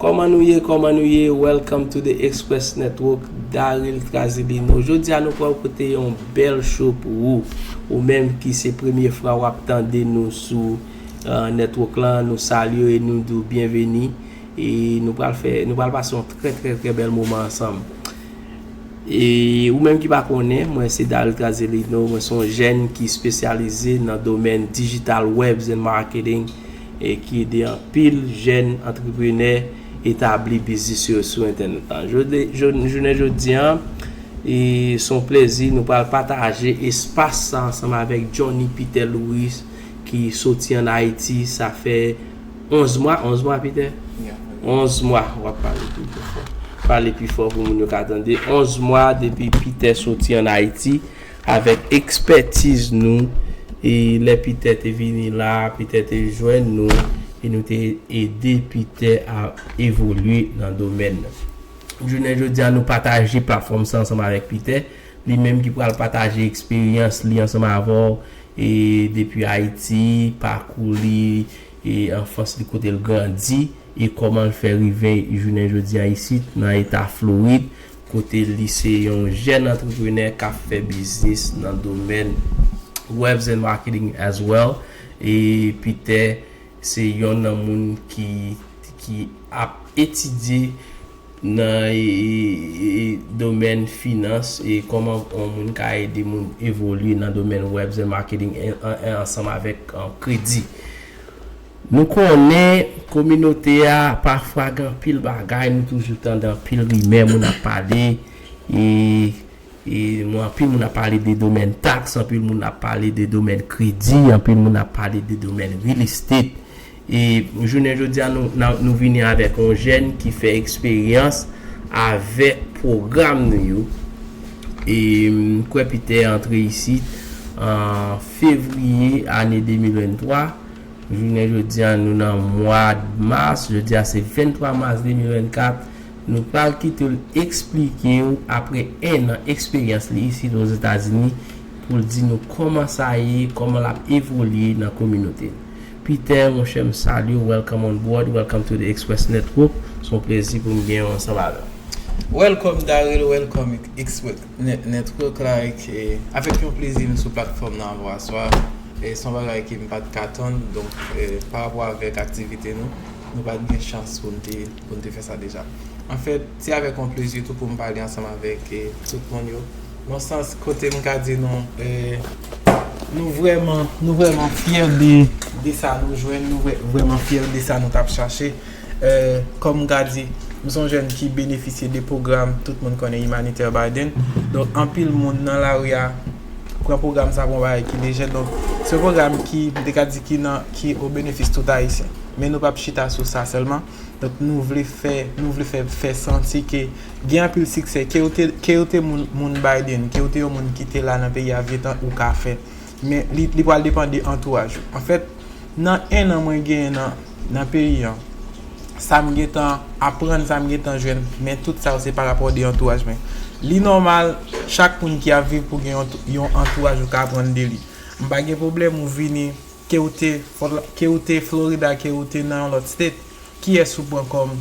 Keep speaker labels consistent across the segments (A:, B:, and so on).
A: Kòman nou ye kòman nou ye welcome to the express network Daril Trazibino jodi a nou pral pote yon bèl show pou ou ou menm ki se premye fra wap tande nou sou euh, network lan nou salye e nou dou byenveni e nou pral fè nou pral pase yon trè trè trè bèl moman ansanm e ou menm ki pa konnen mwen se Daril Trazibino mwen son jèn ki spesyalize nan domèn digital webs and marketing e ki ede anpil jèn antreprenè etabli biznis yo sou entènèt la. Jounen jodi a, se yon plezi nou pral pataje espas sa ansanm avèk Jhonny Peter Louis ki soti an Ayiti sa fè 11 mwa, 11 mwa Peter? Ya. 11 mwa, wap pale tou pi fò. Pale pi fò pou moun yo ka tande. 11 mwa depi Peter soti an Ayiti. Avèk ekspètiz nou, e lè Peter te vini la a, Peter te jwenn nou, e nou te ede Peter a evolye nan domèn nan. Jounen jodi a, nou pataje platfòm sa ansanm avèk Peter, li menm ki pral pataje eksperyans li ansanm avè w, e depi Ayiti, pakou li, e anfans li kote l grandi, e kòman l fè rive jounen jodi a isit nan eta Florid. kote li se yon jèn antreprenè k ap fè biznis nan domèn Webs and Marketing as well e Peter se yon nan moun ki ki ap etidye nan domèn finans e kòman yon moun ka ede moun evolye nan domèn Webs and Marketing ansanm avèk kredi. Nou konnen kominote a pafwa gen anpil bagay nou toujou tande anpil rimè moun ap pale e mwen anpil moun ap pale de domèn taks anpil moun ap pale de domèn kredi anpil moun ap pale de domèn real estate e jounen jodi a nou vini avèk yon jèn ki fè eksperyans avèk pwogram nou yo e m kwè Peter antre isit an fevriye ane 2023. Jounen jodi a nou nan mwad mas, jodi a se 23 mas 2024, nou pral kite l eksplike ou apre 1 an eksperyans li isit Ozetazini pou l di nou kòman sa ye, kòman l ap evolye nan kominote l. Peter monchè m salye w welcome on board, welcome to the Express Network, s on plezi pou m gen w ansanm avè w. Welcome
B: Daryl, welcome Express. Nèt nèt Rock like e avèk yon plezi m sou platfòm nan avèw aswa e son bagay ke m pat ka tann donk pa rapò avèk aktivite nou nou pat gen chans pou n te fè sa deja anfèt se avèk yon plezi tou pou m pale ansanm avèk tout moun yo yon sans kote m ka di nou nou vrèman nou vrèman fyè de sa nou jwenn nou vrèman fyè de sa nou tap chache. Kòm Gady, m s on jèn ki benefisye de pwogram tout moun konnen Humanitaire Biden. Donk anpil moun nan lari a pran pwogram sa pou yon bagay ki lejè. Donk se yon pwogram ki, m te ka di ki nan, ki o benefis tout Ayisyen. Men nou pap chita sou sa sèlman. Donk nou vle fè, nou vle fè, fè santi ke gen anpil siksè. Ke ou te, ke ou te moun, moun Biden, ke ou te yon moun ki te la nan peyi a vye tan, ou ka fè. Men li, li pral depan de antouraj ou. Anfèt, nan ennan mwen genyen nan. nan peyi an sa m gentan aprann sa m gentan jwenn men tout sa yo se pa rapò de antouraj mwen li nòmal chak moun ki ap viv pou gen yon antouraj ou ka aprann de li m pa gen pwoblèm ou vini ke ou te ke ou te Florida ke ou te nan yon lòt state kiyès ou pran kòm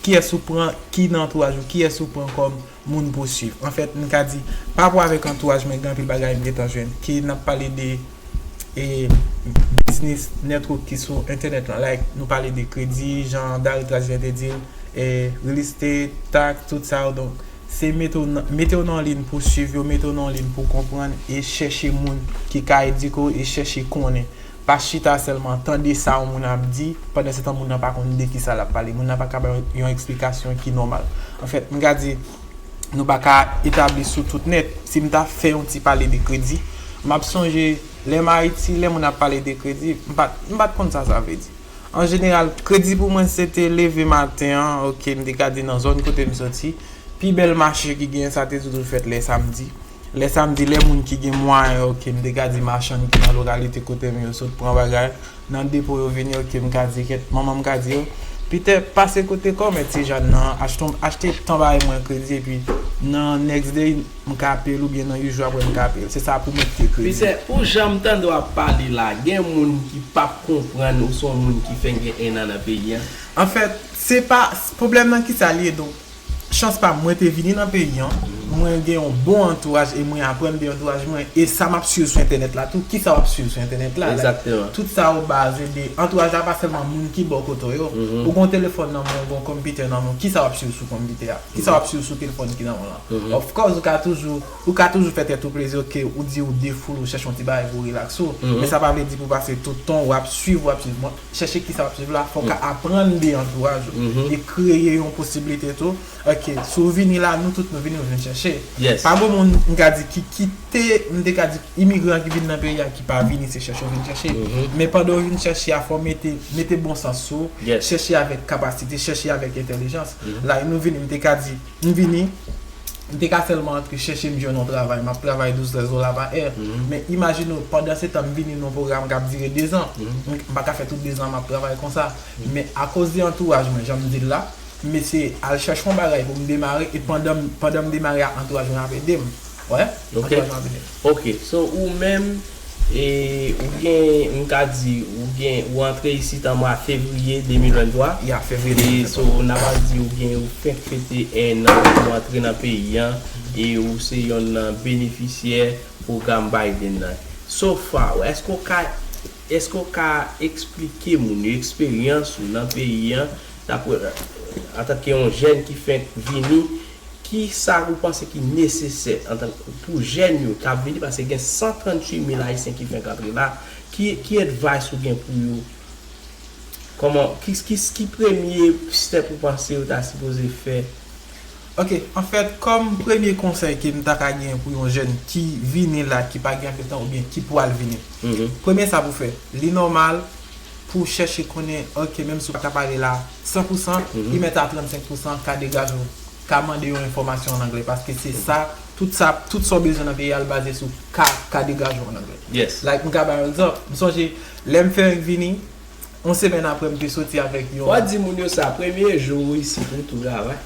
B: kiyès ou pran ki nan antouraj ou kiyès ou pran kòm moun pou swiv. An fèt, m ka di, pa rapò avèk antouraj mwen, gen anpil bagay m gen tan jwenn. Ke n ap pale de biznis network ki sou entènèt lan, like, nou pale de kredi, jan Dary Trask vyen te di l, real estate, tax, tout sa yo. Donk, se mete w nan, mete w nan yon lin pou swiv yo, mete w nan yon lin pou konprann e chèche moun ki ka edike w e chèche konnen. Pa chita sèlman tande sa yon moun ap di, pandansetan moun nan pa konn de ki sa l ap pale. Moun nan pa ka ba w yon eksplikasyon ki nòmal. Anfèt, m ka di, nou pa ka etabli sou tout nèt. Si m ta fè yon ti pale de kredi, m ap sonje lè m Ayiti, lè moun ap pale de kredi, m pa t, m pa t konn sa sa vle di. An jeneral, kredi pou mwen se te leve maten an, oke, m te ka di nan zòn kote m soti, pi bèl mache ki genyen sa te toujou fèt lè samdi. Lè sa m di lè moun ki gen mwayen ok m te ka di machann ki nan lokalite kote m yo sot pran bagay nan depo yo vini ok m ka di kèt manman m ka di yo Pitè pase kote kòmè ti Jann nan an achte yon achte tan bay mwen kredi epi nan next day m ka peye l oubyen nan 8 jou aprè m ka peye l se sa pou mwen kite kredi. Pitè pou jan
A: m
B: tande
A: w ap pale la gen moun ki p ap konprann ou se yon moun ki fenk gen 1 an nan peyi an? Anfèt
B: se pa pwoblèm nan kisa li ye donk Chans pam mwen te vini nan peyi an, mwen gen yon bon antouraj e mwen aprann de antouraj mwen e sa map swiv sou entènèt la tou, kisa wap swiv sou entènèt la, tout sa yo
A: baze
B: de antouraj la pa sèlman moun ki bò kote w yo, ou gen yon telefòn nan men w, gen yon konpitè nan men w, kisa wap swiv sou konpitè a, kisa wap swiv sou telefòn ki nan men w lan, of course ou ka toujou, ou ka toujou fè tèt ou plezi ok ou di ou defoule ou chèche yon ti bagay pou relax ou, men sa pa vle di pou pase tout tan ou ap swiv ou ap swiv. chèche kisa wap swiv la, fòw ka aprann de antouraj ou e kreye yon posibilite tou, ok si w vini la nou tout nou vini nou vin chèche, pa gen moun
A: m ka
B: di ki kite m te ka di imigran ki vin nan peyi a ki pa vini se chèche yo vin chèche, men pandan yo vin chèche a fòw mete mete bon sans sou, chèche avèk kapasite, chèche avèk entèlijans, like nou vini m te ka di. M vini, m te ka sèlman antre chèche m jwenn yon travay, m ap travay 12, 13 dola pa è. Men imajine w, pandansetan m vini nan yon pwogram k ap dire dezan. M pa ka fè tout dezan an m ap travay konsa. Men akoz de antouraj mwen, jan m di l la, m eseye al chèche yon bagay pou m demare e pandan m demare a, antouraj mwen ap ede m. Wè, atò jan vini.
A: Ok, so ou menm, e, ou gen, m ka di, ou gen, ou antre isit an mwa fevriye 2023. Ya, fevriye 2023. E,
B: so, n ava di
A: ou gen, ou fenk fete 1 an depi ou antre nan peyi an, e ou se yonn nan benefisyè pwogram Biden nan. So far, èske ou ka, èske ou ka eksplike moun yo eksperyans ou nan peyi an, dapre, antanke yon jèn ki fenk vini, Ki sa ou panse ki nesesè antan k pou jèn yo k ap vini paske gen 138 mil ayisyen ki fenk antre la ki ki advice ou gen pou yo kòman ki ki ki premye step ou panse yo ta sipoze fè? Ok
B: anfèt kòm premye konsèy ke m ta ka genyen pou yon jèn ki vini la ki pa gen anpil tan oubyen ki pwal vini premye sa pou fè li nòmal pou chèche konnen ok menm si w pa ta pale la san pou san li mèt a 35 pou san ka degaj ou ka mande yon enfòmasyon an anglè paske se sa tout sa tout sa w bezwen nan peyi a l baze sou ka ka degaj ou an anglè like m ka bay yon
A: egzanp
B: m sonje lè m fenk vini yon semèn aprè m te soti avèk yon. Wap di moun yo sa premye
A: jou ou isit ou tou travay.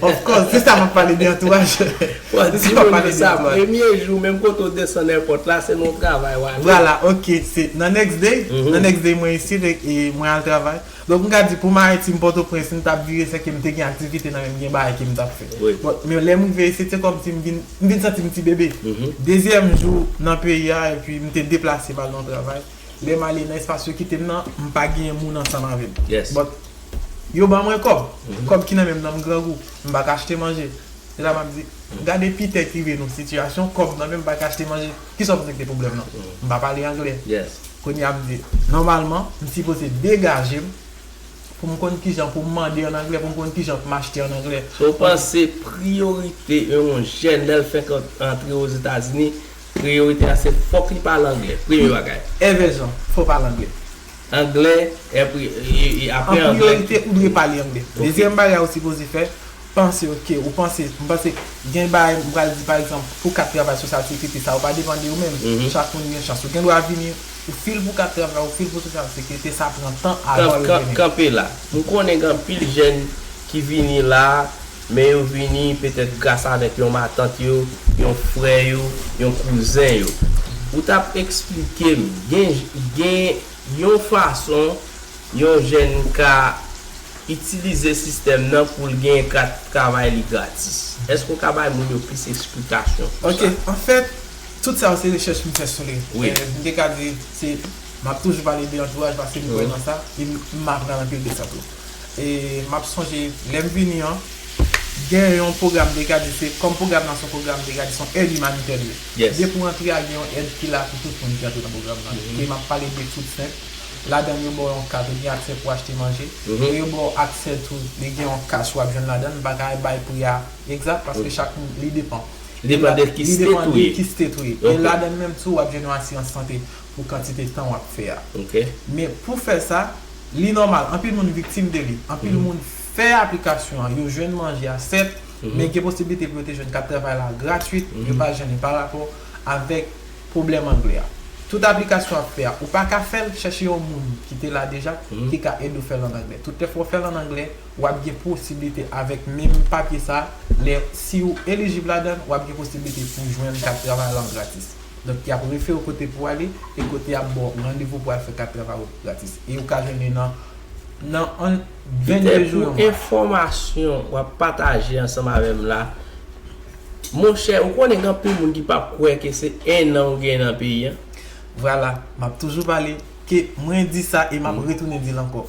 A: Of course, se
B: sa map pale de antouraj. Bon
A: di moun yo sa premye jou menm kote ou desann èpòt la se nan yon travay wale. Vwala ok se
B: nan next day, nan next day mwen isit e mwen al travay. Donk m ka di pou m Ayiti m Pòtoprens m tap vire sèke m te gen aktivite nan men m gen bagay ke m tap fè. But men lè m rive isit se kòmsi m vin m vin santi m ti bebe. Dezyèm jou nan peyi a epi m te deplase m al nan yon travay. lèm ale nan espas yo kitem nan m pa genyen moun ansanm avèm but yo ban mwen kòb kòb ki nan menm nan m grangou m pa ka achte manje se sa map di gade pite k rive nou sitiyasyon kòb nan menm m pa ka achte manje kisa w vle k te pwoblèm nan m pa pale anglè kounye a m
A: di
B: nòmalman m sipoze degajem pou m konn kijan pou m mande an anglè pou m konn kijan pou m achte an anglè. Sa w panse
A: priyorite yon jèn lèl fenk antre ozetazini Priyorite a se fòk li pale anglè premye bagay. È vèzon, fò pale
B: anglè. Anglè,
A: è pri, e apre anglè. An priyorite ou dwe pale
B: anglè. Ok. Dezyèm bagay ou sipoze fè, panse ok, ou panse, m panse gen bagay m pral di pa egzanp pou kat travay sosyal sekrite sa yo pa depan de ou menm, chak moun gen chans ou gen dwa vini ou fil pou kat travay ou fil pou sosyal sekrite sa pran tan avan yo vini. Kan, kan, kanpe la. M
A: konnen gen anpil jèn ki vini la. Men yo vini petèt gras avèk yon matant yo, yon frè yo, yon kouzen yo. Ou t ap esplike m, gen, gen yon fason yon jèn ka itilize sistèm nan pou l genyen kat travay li gratis. Èske ou ka bay moun yo plis esplikasyon sou sa? Ok. Anfèt,
B: tout sa yo se rechèch m fè sou li. Wi. M te ka di
A: se,
B: m ap toujou pale de antouraj paske m kwè nan sa, e m aprann anpil de sa tou. e map sonje lèm vini an gen yon pwogram de gade se kòm pwogram nan son pwogram de gade son èd imanitè li ye depi w antre
A: a gen
B: yon èd ki la pou tout moun ki antre nan pwogram nan e map pale de food stamp ladann yo baw yon kat ou gen aksè pou achte manje e yo baw aksè tou li gen yon kach wap jwenn ladann m paka bay pri a egzat paske chak moun li depan li depan
A: de ki state ou ye e ladann menm tou
B: wap jwenn yon asirans sante. pou kantite tan wap fè a. Men
A: pou fè
B: sa, li nòmal anpil moun viktim de li. Anpil moun fè aplikasyon an, yo jwenn manje a sèt, men gen posiblite pou yo te jwenn kat travay la gratwit, yo pa jennen pa rapò avèk pwoblèm anglè a. Tout aplikasyon wap fè a, ou pa ka fè l, chèche yon moun ki te la deja ki ka ede w fè l an anglè. Tout lè fwa w fè l an anglè, wap gen posiblite avèk menm papye sa, lè si ou elijib ladan l, wap gen posiblite pou jwenn kat travay la gratis. Donk y ap refere w kote pou w ale e kote y ap ba w randevou pou w al fè kat travay ou gratis. E ou ka jwenn li nan nan 22 jou yon mwa. Piter pou enfòmasyon
A: w ap pataje ansanm avè m la, monchè ou konnen gen anpil moun ki p ap kwè ke se ennan ou gen nan peyi an. Vwala,
B: m ap toujou pale. Ke mwen di sa e map retounen dil ankò.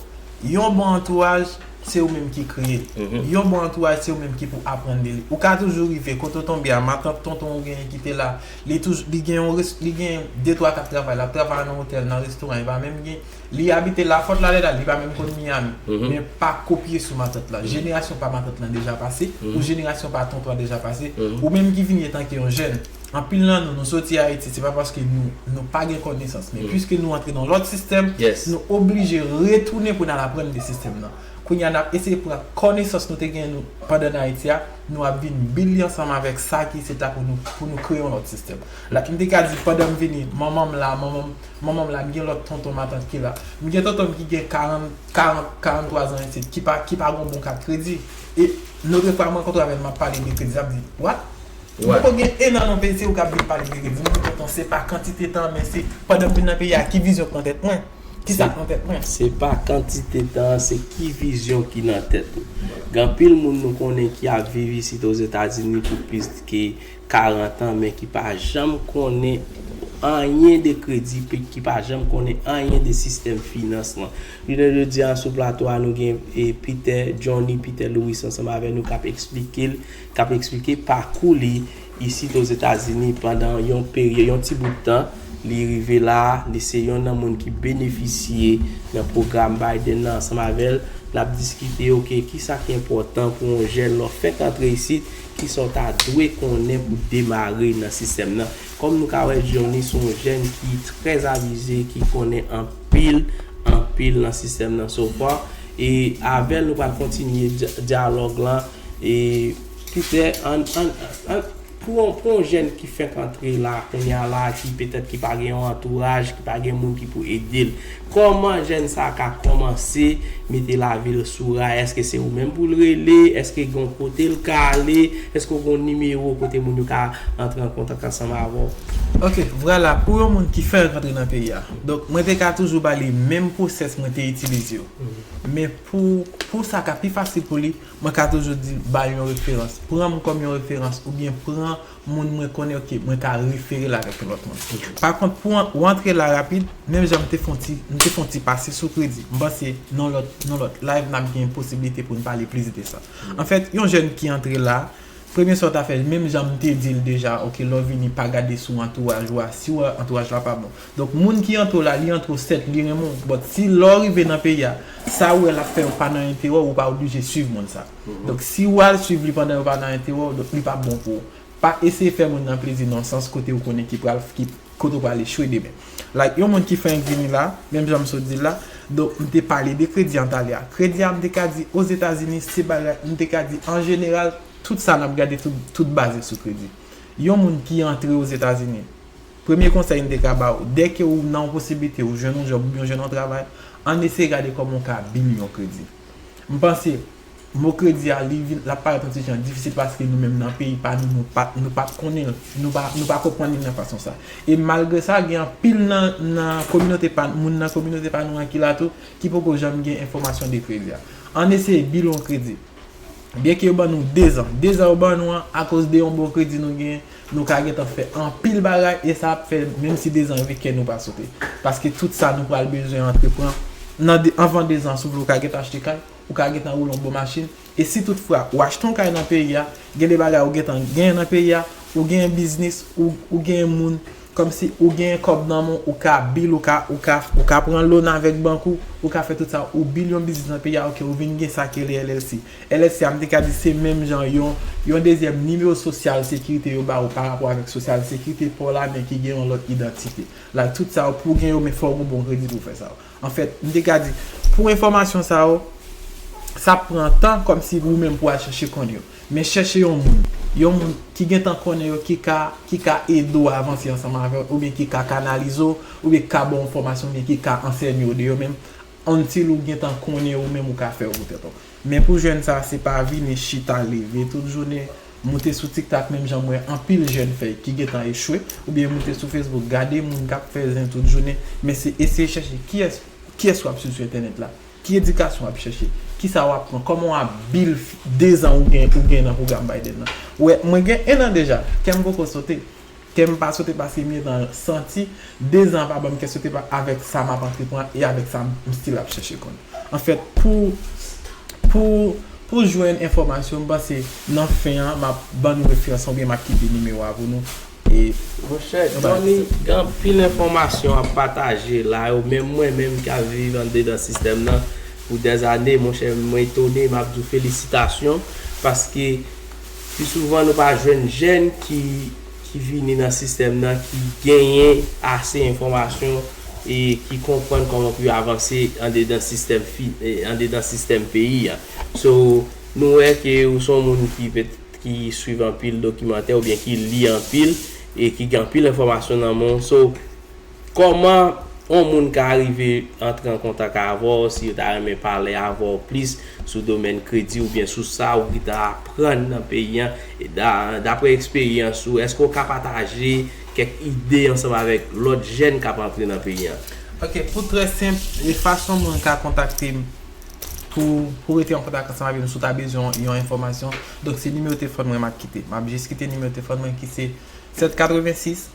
B: Yon bon antouraj se ou menm ki kreye. Yon bon antouraj se ou menm ki pou aprann de li. Ou ka toujou rive kote ou tonbe a, matant, tonton ou genyen ki te la, li toujou, li gen yon res, li gen de twa kap travay, lap travay nan otèl, nan restoran, li pa menm gen, li abite Lafòt la lè la, li pa menm konn Miyami. Men pa kopye sou matant lan. Jenerasyon pa matant lan deja pase, ou jenerasyon pa tonton an deja pase, ou menm ki vini etanke yon jèn, Anpil nan nou, nou soti Ayiti, se pa paske nou, nou pa gen konesans, men piske nou antre nan yon lòt sistèm, nou oblije retounen pou n al aprann de sistèm nan. Kounye a n ap eseye pran konesans nou te gen nou pandan n Ayiti a, nou ap vin bil li ansanm avèk sa ki se ta pou nou, pou nou kreye yon lòt sistèm. La, m te ka di pandan m vini, manman m la, manman m, manman m la, m gen lòt tonton, matant ki la. M gen tonton m ki gen 40, 40, 43 zan isit, ki pa, ki pa gen yon bon kat kredi. E, lòt fwa mwen rankontre avè l, m ap pale de kredi, l ap di, What? Ou poko gen 1 an nan peyi se ou kap vin pale de revni ki tonton se pa kantite tan men se pandanm vin nan peyi a ki vizyon ki nan tèt mwen ki sak nan tèt mwen. Se pa kantite
A: tan an se ki vizyon ki nan tèt ou. Gen anpil moun nou konnen ki ap viv isit ozetazini pou plis ke 40 an men ki pa janm konnen anyen de kredi pik ki pa janm konnen anyen de sistèm finans lan. Jounen jodi a sou plato a nou gen Peter Johnny Peter Louis ansanm avè nou kap eksplike l k ap eksplike pakou li isit Ozetazini pandan yon peryòd, yon ti bout tan, li rive la a, li se yon nan moun ki benefisye nan pwogram Biden nan ansanm avè l, n ap diskite ok, kisa ki enpòtan pou yon jèn lè w fèk antre isit, kisa w ta dwe konnen pou w demare nan sistèm nan. Kòm nou ka wè Johnny se yon jèn ki trè avize, ki konnen anpil, anpil nan sistèm nan so far e avè l nou pral kontinye dyalòg lan. E petè an an an pou yon pou yon jèn ki fèk antre la kounya la ki petèt ki pa gen yon antouraj, ki pa gen moun ki pou ede l. Kòman jèn sa ka kòmanse mete lavi l sou ray? Eske se ou menm pou l rele? Eske gen yon kote l ka ale? Eske ou gen yon nimewo kote moun yo ka antre an kontak ansanm avè w? Ok, vwala
B: pou yon moun ki fèk antre nan peyi a. Donk mwen te ka toujou ba li menm pwosès mwen te itilize yo. Men pou pou sa ka pi fasil pou li, Mwen ka toujou di, ba yon referans. Pran m kòm yon referans oubyen pran moun mwen konnen ok mwen ka refere l avèk yon lòt moun. Pakont pou ou antre la rapid, menm jan m te fon ti m te fon ti pase sou kredi. M panse nan lòt nan lòt live n ap gen posiblite pou n pale plis de sa. Anfèt, yon jèn ki antre la, premye sa w ta fè menm jan m te di l deja ok lè w vini pa gade sou antouraj ou a, si w wè antouraj la pa bon, Donk moun ki antre w la li antre w sèt li renmen w but si lè w rive nan peyi a sa ou wè lap fè yo pa nan enterè w ou pa oblije swiv moun sa donk si ou al swiv li pandan yo pa nan enterè w donk li pap bon pou ou pa eseye fè moun nan plezi nan sans kote ou konnen ki pral kote ou pral echwe demen like yon moun ki fenk vini la menm jan m sot di l la donk m te pale de kredi antalya a kredi a m te ka di ozetazini se bagay m te ka di an jeneral tout sa nap gade tout baze sou kredi yon moun ki antre ozetazini Premye konsèy m te ka ba ou, dè ke ou nan yon posiblite ou jwenn yon djòb oubyen ou jwenn yon travay, ann eseye gade kòman ou ka bil yon kredi. M panse, mo kredi a li vin, l ap parèt yon ti jan difisil paske nou menm nan peyi pa nou, nou pa, nou pa konnen l, nou pa, nou pa konprann li nan fason sa. E malgre sa, gen anpil nan, nan kominote pa n, moun nan kominote pa nou an ki la tou, ki poko janm gen enfòmasyon de kredi a. Ann eseye bil yon kredi. Byen ke yo ban nou dezan. Dezan yo ban nou an, akoz de yon bon kredi nou genyen, Nou ka gentan fè anpil bagay e sa ap fè menm si dezan rive kè nou pa sote. Paske tout sa nou pral bezwen antrepran nan anvan dezan sou vle ou ka gentan achte kay, ou ka gentan woule yon bon machin e si tout fwa ou achte yon kay nan peyi a, gen de bagay ou gentan genyen nan peyi a, ou genyen biznis, ou genyen moun, kòmsi ou genyen kòb nan men w, ou ka bil, ou ka, ou ka, ou ka pran loan avèk bank ou, ou ka fè tout sa, ou bil yon biznis nan peyi a ok ou vin gen sa ki rele LLC. LSC a m te ka di se menm jan yon yon dezyèm nimewo sosyal sekirite yo ba ou pa rapò avèk sosyal sekirite pa w la men ki gen yon lòt idantite la tout sa yo pou w gen yo men fò w gen bon kredi pou w fè sa yo anfèt m te ka di pou enfòmasyon sa yo sa ap pran tan kòm si ou menm pou al chèche konn yo men chèche yon moun yon
C: moun ki gen tan konnen yo ki ka ki ka ede w avanse ansanm avè w oubyen ki ka kanalize w oubyen ki ka ba w enfòmasyon oubyen ki ka ansèye w de yo men Until ou gentan konnen ou menm ou ka fè pou tèt ou. Men pou jèn sa se pa vini chita leve tout jounen moute sou tiktak menm jan m wè anpil jèn fè ki gentan echwe oubyen moute sou facebook gade moun kap fè zen tout jounen men se eseye chèche kiyès kiyès wap swiv sou entènèt la ki edikasyon wap chèche kisa wap pran kòman wap bil dezan ou gen ou gen nan pwogram Biden nan wè mwen gen 1 an deja kèm poko sote Kèm pa sote pase m gentan santi 2 zan pa banm kè sote pa avèk sa map antrepran e avèk sa m stil ap chèche konn anfèt pou pou pou jwenn enfòmasyon m panse nan fen an map ban nou referans lan oubyen map kite nimewo a pou nou e Monchè
A: Johnny gen anpil enfòmasyon wap pataje la yo menm mwen menm ki ap viv andedan sistèm nan pou dèzane monchè mwen etone map di w felisitasyon paske Pi souvan nou pa jwenn jèn ki vini nan sistèm nan ki genyen ase enfòmasyon e ki konprann kòman pou yo avanse andedan sistèm andedan sistèm peyi a. So, nou wè ke ou son moun ki ki swiv anpil dokimantè oubyen ki li anpil e ki gen anpil enfòmasyon nan men w. So. Kòman yon moun ka rive antre an kontak avè w si yo ta renmen pale avè w plis sou domèn kredi oubyen sou sa ou gntan aprann nan peyi an? Daprè eksperyans ou, èske w ka pataje kèk ide ansanm avèk lòt jèn k ap antre nan peyi an? Ok, pou trè
C: senp, fason moun ka kontakte m pou pou rete an kontak ansanm avè m si w ta bezwen yon enfòmasyon, donk se nimewo telefòn mwen m ap kite. M ap jis kite nimewo telefòn mwen ki se 786.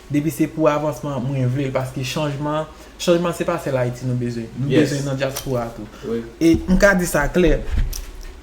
C: Depi se pou avansman mwen vle l paske chanjman chanjman se pa sèl Ayiti nou bezwen nou bezwen nan dyaspora tou e m ka di sa klè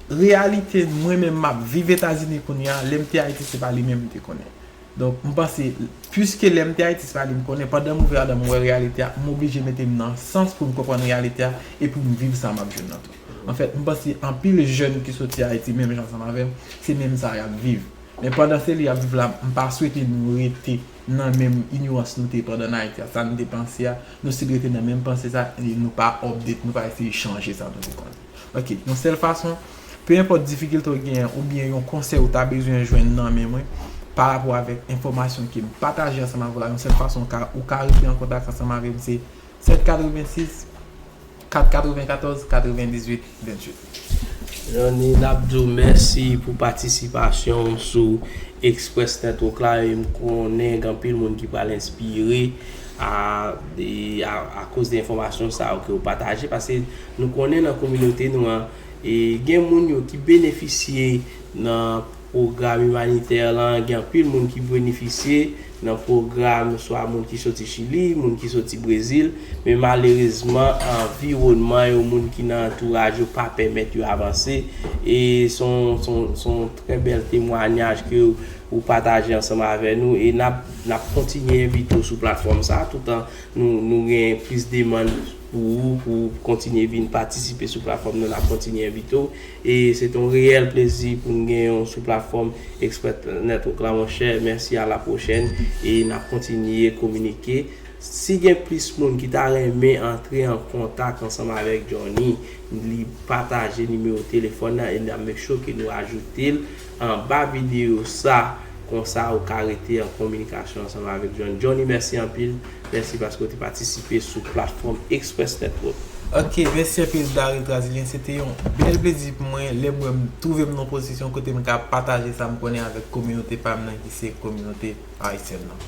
C: reyalite mwen menm m ap viv Etazini kounye a lè m te Ayiti se pa li menm m te konnen donk m panse piske lè m te Ayiti se pa li m konnen pandan m ouvè adan m wè reyalite a m oblije mete m nan sans pou m konprann reyalite a e pou m viv sa m ap jwenn nan tou anfèt m panse anpil jèn ki soti Ayiti menm jan ansanm avè m se menm sa y ap viv. Men pandan se li ap viv la m pa swete nou rete nan menm inyorans nou te pandan n Ayiti a sa nou te panse a nou stil rete nan menm panse sa e nou pa update nou pa eseye chanje sa nou te konnen ok yon sèl fason pe enpòt difikilte w genyen oubyen yon konsèy ou ta bezwen jwenn nan men mwen pa rapò avèk enfòmasyon ke m pataje ansanm avèw la yon sèl fason ou ka rete an kontak ansanm avèm se 786. 4 94 98 28. Johnny
A: nap di w mèsi pou patisipasyon w sou Express Network la e m konnen gen anpil moun ki pral enspire a koz de enfòmasyon sa yo ke ou pataje paske nou konnen nan kominote nou an gen moun yo ki benefisye nan Pwogram imanitè lan gen anpil moun ki bwenifisye nan pwogram swa moun ki soti Chili, moun ki soti Brezil, men malerezman anviwònman yo, moun ki nan antouraj yo pa pèmèt yo avanse e s on trè bèl temwanyaj ke ou pataje ansanm avè nou e nap kontinye envite w sou platfòm sa toutan nou gen plis demann Pou ou pou ou kontinye vin patisipe sou platfòm nan nap kontinye envite w e se te yon reyèl plezi pou n genyen w sou platfòm Express Network la monchè mèsi a la pwochèn e nap kontinye kominike si gen plis moun ki ta renmen antre an kontak ansanm avèk Johnny li pataje nimewo telefòn nan e nap make sure ke nou ajoute l anba video sa konsa ou ka rete an kominikasyon ansanm avèk John. Johnny mèsi anpil, mèsi paske ou te patisipe sou platfòm Express Network. Ok mèsi
C: anpil Daril Trasilyen, se te yon bèl plezi pou mwen lè m wè m twouve m nan yon pozisyon kote m ka pataje sa m konnen avèk kominote pa m nan ki se kominote Ayisyèn nan.